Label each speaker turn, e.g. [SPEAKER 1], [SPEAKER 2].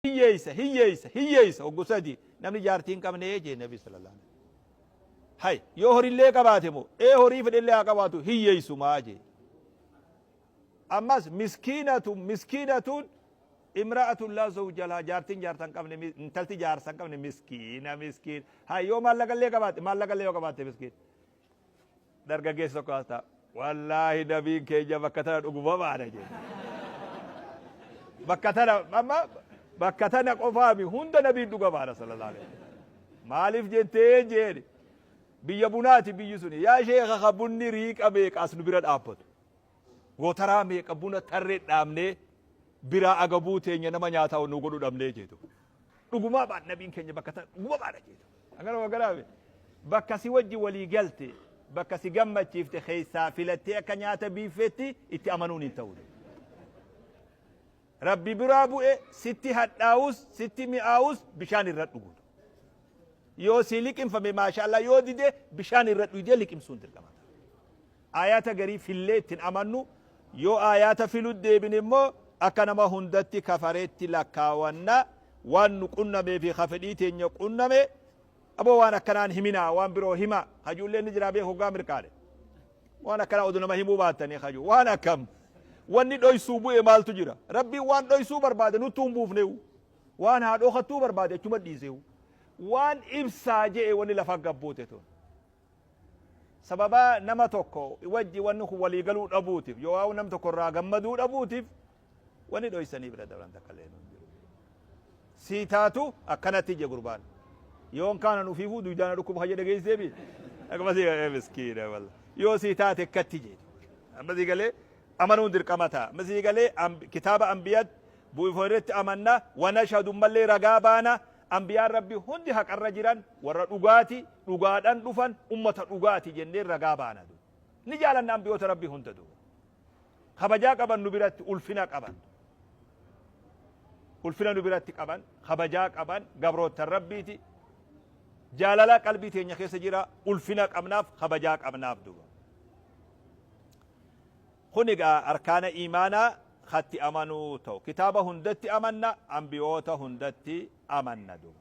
[SPEAKER 1] hiyyeessa hiyyeessa hiyyeessa oggu sadi namni jaartii hin qabne jee nabi sallallahu alaihi wasallam hay yoo horillee qabaate moo ee horii fedhellee haa qabaatu hiyyeessumaa jee ammas miskiinatu miskiinatuun imra'atun laa zawja lahaa jaartiin jaarsa hin qabne mi- intalti jaarsa hin qabne miskiina miskiin hay yoo maallaqallee qabaate maallaqallee yoo qabaate miskiin Dargaggeessi tokko as ta'a. Wallaahi nabiin keenya bakka tana dhuguma baana jedhe. Bakka tana amma bakka tana qofaami hunda nabiin dhuga baana sallallahu alaihi wasallam. Maaliif jettee jeeni biyya bunaati biyyi suni yaa sheekha ka bunni riiqa meeqa as nu bira dhaabbatu. Gootaraa meeqa buna tarree dhaabnee biraa agabuu teenya nama nyaataa nu godhu dhabnee jeetu. dhugumaa baan nabiin keenya bakka ta dhuguma baadha jeetu akkana wagaraabe bakka si wajji walii galte bakka si gammachiifte keessaa filattee akka nyaata biiffeetti itti amanuun hin ta'u rabbi biraa bu'e sitti hadhaa'us sitti mi'aa'us bishaan irra dhugu yoo si liqimfame maashaallah yoo dide bishaan irra dhuyde liqimsuun dirqama Aayaata garii fillee itti hin amannu, yoo aayaata filuutti deebine immoo akka nama hundatti kafareetti lakkaawanna, waan nu qunnamee fi ka fedhii teenya qunname, aboo waan akkanaa hin himinaa, waan biroo himaa, ka je'u illee ni jira beeki hoggaa mirqaane. Waan akkanaa odoo nama himuu baattanii ka je'u. Waan akkam! Wanni dhoysuu bu'e maaltu jira? Rabbiin waan dhoysuu barbaade nuttuu hin buufne'uu. Waan haa dhokattuu barbaade achumatti dhiise'uu. Waan ibsaa je'e wanni lafa gad buute tun. Sababa nama tokko wajji wanni kun walii galuu dhabuutiif yookaa nam tokko irraa gammaduu dhabuutiif wanni dhoysanii bira dabran takka illee hin jiru. Sii taatu akkanatti ije gurbaan. Yoon kaanan ufiifuu duydaan na dhukkuba kan jedhe geessee bi. Akkuma sii galee miskiina walla. Yoo sii taate akkatti ije. Amma sii galee amanuun dirqama ta'a. Amma sii galee kitaaba anbiyat bu'ifoo irratti amanna wanashadu mallee ragaa baana Anbiyaan Rabbii hundi haqarra jiran, warra dhugaati, dhugaadhan dhufan, ummata dhugaati jennee ragaa baana. Ni jaalanna anbiyoota Rabbii hunda. Kabajaa qaban nu biratti, ulfina qaban. Ulfina nu biratti qaban, kabajaa qaban, gabroottan Rabbiiti. Jaalala qalbii teenya keessa jira, ulfina qabnaaf, kabajaa qabnaaf. Kun egaa arkaana iimaanaa katti amanuu ta'u. Kitaaba hundatti amanna, anbiyoota hundatti amanna duuba.